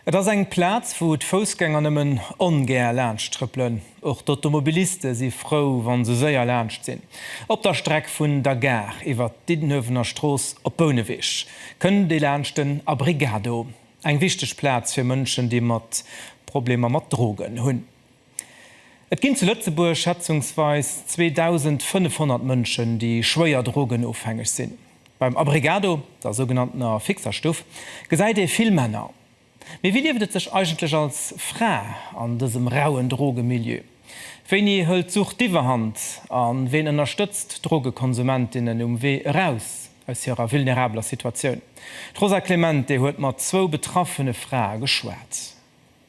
Et ass eng Plaz, wou d'Foussgänger nëmmen ongär laanscht trëppelen. Och d'Automobiliste si frou, wa se séier laanscht sinn. Op der Streck vun der Gare iwwer d'Diddenuewener Strooss op Bouneweg kënnt ee laanscht den Abrigado, eng wichteg Plaz fir Mënschen, déi mat Problemer mat Drogen hunn. Et ginn zu Lëtzebuerg schätzungsweis 2.500 Mënschen, déi schwéier drogenofhängeg sinn. Beim Abregado, der sougenanntener fixer Stuff, gesäit ee vill Männer. Mee wéi lieft et sech eigentlech als Fra an dësem rauen Drogemilieu? Wéini hëlt d'Sucht d'Iwwerhand a ween ënnerstëtzt d'Drogekonsumentinnen um Wee eraus aus hirer vulnerabeler Situatioun? D'Rosa Clemente huet mat zwou betraffene Frae geschwat.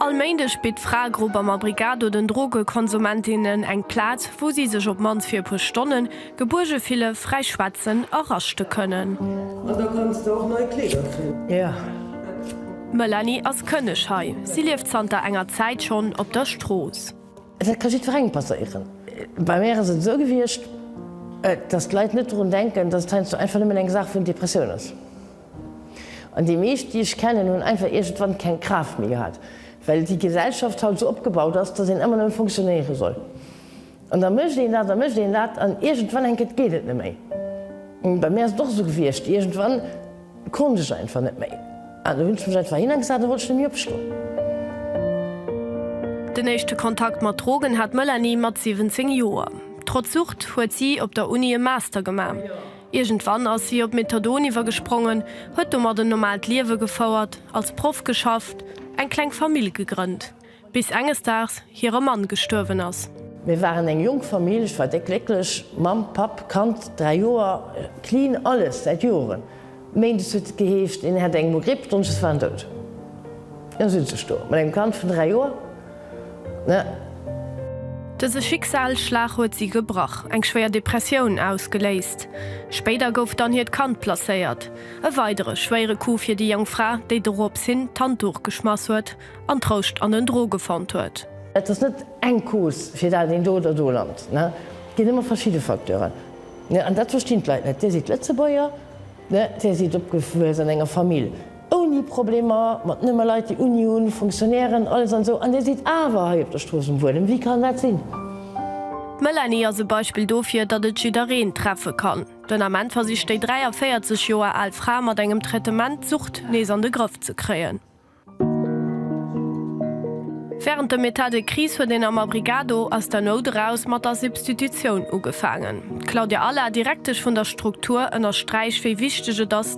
All Méindeg bitt d'Fraegrupp am Abrigado den Drogekonsumentinne eng Plaz, wou si sech op mannst fir e puer Stonne gebuerge fille, fräi schwätzen a raschte kënnen. D'Melanie ass Kënneg hei. Si lieft zanter enger Zäit schonn op der Strooss. Dat ka jiddwerengem passéieren. Bei mär ass et esou gewiescht, dass d'Leit net drun denken, dass et heiansdo einfach nëmmen eng Saach vun Depressioun ass. An déi meescht, déi ech kennen, hunn einfach iergendwann keng Kraaft méi gehat, well déi Gesellschaft haut esou opgebaut ass, dass een ëmmer nëmme fonctionnéiere soll. An da mécht een dat a mécht een dat an iergendwann, enk, et geet et net méi. Bei mir ass et och esou gewiescht, iergendwann konnt ech einfach net méi an da hunn ech mech einfach hin a gesat, da wollt ech net méi opstoen. Den éischte Kontakt mat Drogen hat d'Melanie mat 17 Joer. Trotz Sucht huet si op der Uni e Master gemaach. Iergendwann ass si op Methadon iwwergesprongen, huet domat en normaalt Liewe gefouert, als Proff geschafft, eng kleng Famill gegrënnt, bis enges Daags hire Mann gestuerwen ass. Mir waren eng jonk Famill, ech war déck glécklech, Mamm, Papp, Kand, dräi Joer, clean alles, säit Joren. Méindes huet et geheescht, een hätt eng Mo-Gripp, Donneschdes war en dout. An elo sinn ech do, mat engem Kand vun dräi Joer. Dëse Schicksalsschlag huet si gebrach, eng schwéier Depressioun ausgeléist. Spéider gouf dann hiert Kand placéiert. E weidere schwéiere Coup fir déi jonk Fra, déi dorops hin d'Handduch geschmass huet an Trouscht an den Droge fonnt huet. Et ass net eng Cause, fir dat een do oder do lant. Et ginn ëmmer verschidde Facteuren. An dat verstinn d'Leit net. Dir sidd Lëtzebuerger, dir sidd opgewuess an enger Famill. ouni Problemer, mat nëmme Leit déi Uni hunn, Fonctionnairen, alles an esou, an Dir sidd awer hei op der Strooss um Wuelen. Wéi kann dat sinn? D'Melanie ass e Beispill dofir, datt et jiddereen treffe kann. Den Ament versicht déi 43 Joer al Fra mat engem Traitement d'Sucht nees an de Grëff ze kréien. Wärend dem Etat de crise huet een am Abrigado aus der Nout eraus mat der Substitutioun ugefaangen. D'Claudia Alla, Direktesch vun der Struktur, ënnersträicht wéi wichteg et ass,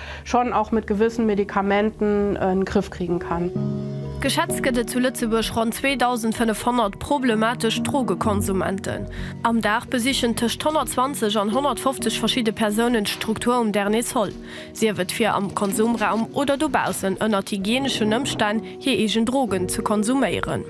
schon auch mit gewissen Medikamenten en Griff kriegen kann. Geschätzt gëtt et zu Lëtzebuerg ronn 2.500 problematesch Drogekonsumenten. Am Dag besichen tëscht 120 an 150 verschidde Persounen d'Struktur um Dernier Sol, sief et fir am Konsumraum oder dobaussen ënnert hygieneschen Ëmstänn hir eegen Drogen ze konsuméieren.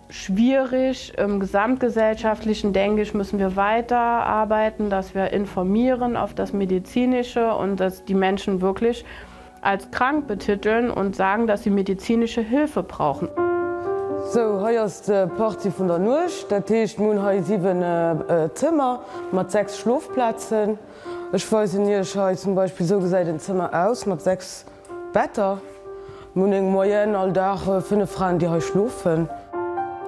Schwierig. Im gesamtgesellschaftlichen, denke ich, müssen wir weiter arbeiten, dass wir informieren auf das Medizinische und dass die Menschen wirklich als krank betiteln und sagen, dass sie medizinische Hilfe brauchen. Sou, hei ass d'Partie vun der Nuecht. Dat heescht, mir hunn hei 7 Zëmmer mat 6 Schlofplazen. Ech weisen Iech hei zum Beispill, sou gesäit en Zëmmer aus mat 6. Wetter, Munneng, Moyenne, All Dag 5 Fraen déi hei schlofen.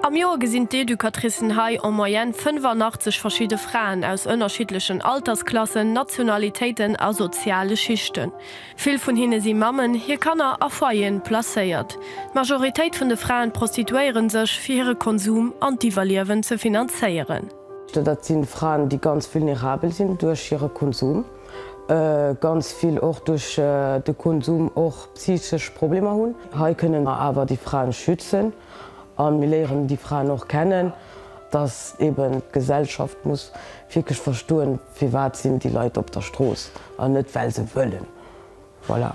Am Joer gesinn d'Educatricen hei en Moyenne 85 verschidde Fraen aus ënnerschiddlechen Altersklassen, Nationalitéiten a soziale Schichten. Vill vun hinne si Mammen, hir Kanner a Foyeren placéiert. D'Majoritéit vun de Fraen prostituéiere sech, fir hire Konsum an d'Iwwerliewen ze finanzéieren. Dat sinn Fraen déi ganz vulnerabel sinn duerch hire Konsum. ganz vill och duerch de Konsum och psychesch Problemer hunn. Hei kënnen mer awer déi Fraen schützen a mir léieren déi Fraen och kennen, dass eben d'Gesellschaft muss wierklech verstoen, firwat sinn déi Leit op der Strooss an net well se wëllen. Voilà.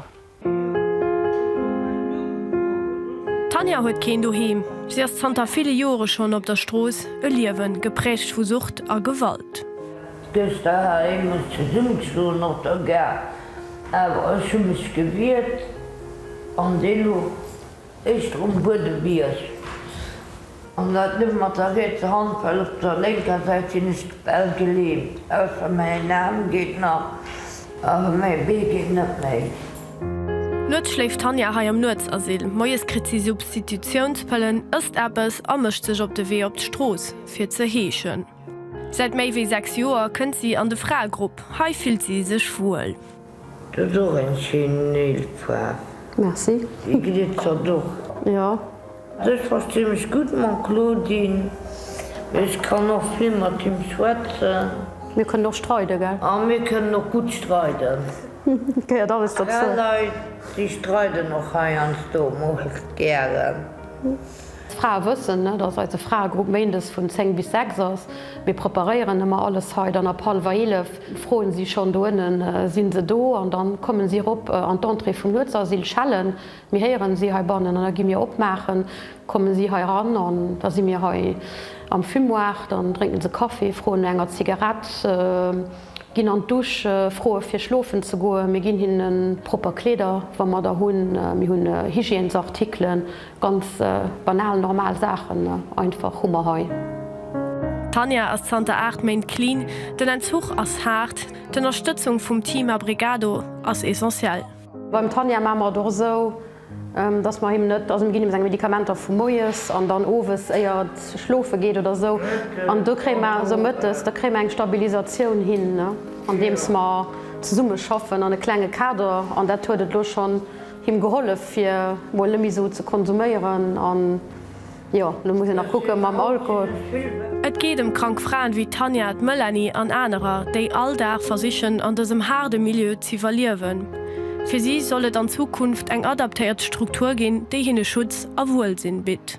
D'Tanja huet keen Doheem. Si ass zanter ville Jore schonn op der Strooss, e Liewe gepräägt vu Sucht a Gewalt. Dës Daheim muss zesummegeschloen, och der Gare. Awer ech hu mech gewiert an dee lo. Éischter um Buedebierg, an dat net mat der rietser Hand, well op der lénker Säit sinn ech bal gelähmt, ausser mäin Aarm geet nach, awer mäi Bee geet net méi. Nuets schléift d'Tanja hei am Nuetsasyl, moies kritt si Substitutiounspëllen, ësst eppes a mécht sech op de Wee op d'Strooss, fir ze heeschen. Säit méi wéi 6 Joer kënnt si an de Fraegrupp, hei fillt si sech wuel. Du hues och eng schéin Néilsfaarf. Merci. Déi glitzert och. Jo. Also ech verstinn mech gutt mam Claudine, mee ech kann och vill mat him schwätzen. Mir kënnen och streide gell? A mir kënnen och gutt streiden. Gehéiert alles dozou. Fraleit déi streiden och heiansdo mol gären. D'Frae wëssen, ne, dass eise Fraegrupp méindes vun 10 bis 6 ass. Mir preparéieren ëmmer alles hei. Dann ab hallwer 11 froen si schonn, do ënnen sinn se do? An da kommen si erop an d'Entrée vum Nuetsasyl, schellen. Mir héieren si heibannen an da gi mir opmaachen. Kommen si hei eran an da si mir hei am Fumoir. Dann drénken se Kaffi, froen no enger Zigarett, ginn an d'Douche, froe fir schlofen ze goen. Mir ginn hinnen propper Kleeder, wa mer der hunn. Mir hunn Hygiènesartikelen. Ganz banal normal Saachen einfach hu mer hei. D'Tanja ass zanter 8 Méint clean, den Entzuch ass haart, d'Ënnerstëtzung vum Team Abrigado ass essentiell. Beim Tanja maache mer et och esou, dass mer him net, also mir ginn him seng Medikamenter vu moies an dann owes éier et schlofe geet oder esou an do kréie mer esou mëttes, da kréie mer eng Stabilisatioun hin andeems mer zesumme schaffen an e klenge Kader an dat huet et elo schonn. Him gehollef fir mol nemme sou ze konsuméieren an jo lo muss en nach kucken mam Alkohol. Et geet ëm krank Fraen wéi d'Tanja, d'Melanie an anerer, déi all Dag versichen an dësem haarde Milieu z'iwwerliewen. Fir si soll et an Zukunft eng adaptéiert Struktur ginn, déi hinne Schutz a Wuelsinn bitt.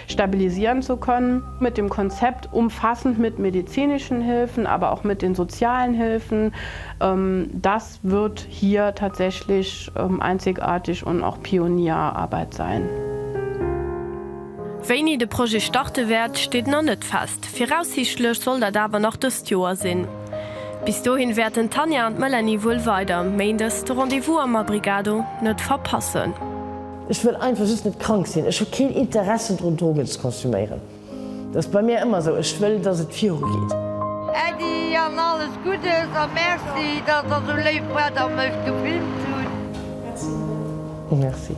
stabilisieren zu können, mit dem Konzept umfassend mit medizinischen Hilfen, aber auch mit den sozialen Hilfen, das wird hier tatsächlich einzigartig und auch Pionierarbeit sein. Wéini de Projet starte wäert, steet nach net fest. Viraussiichtlech soll dat awer nach dëst Joer sinn. Bis dohin wäerten d'Tanja an d'Melanie wuel weider méindes de Rendez-vous am Abrigado net verpassen. Ech wëll einfach just net krank sinn. Ech hu keen Interessen drun, Drogen ze konsuméieren. Dat ass bei mir ëmmer esou. Ech wëll, dass et virugeet. Äddi an alles Guddes a Merci, dass der esou léif waart a mech gefilmt hutt. Merci.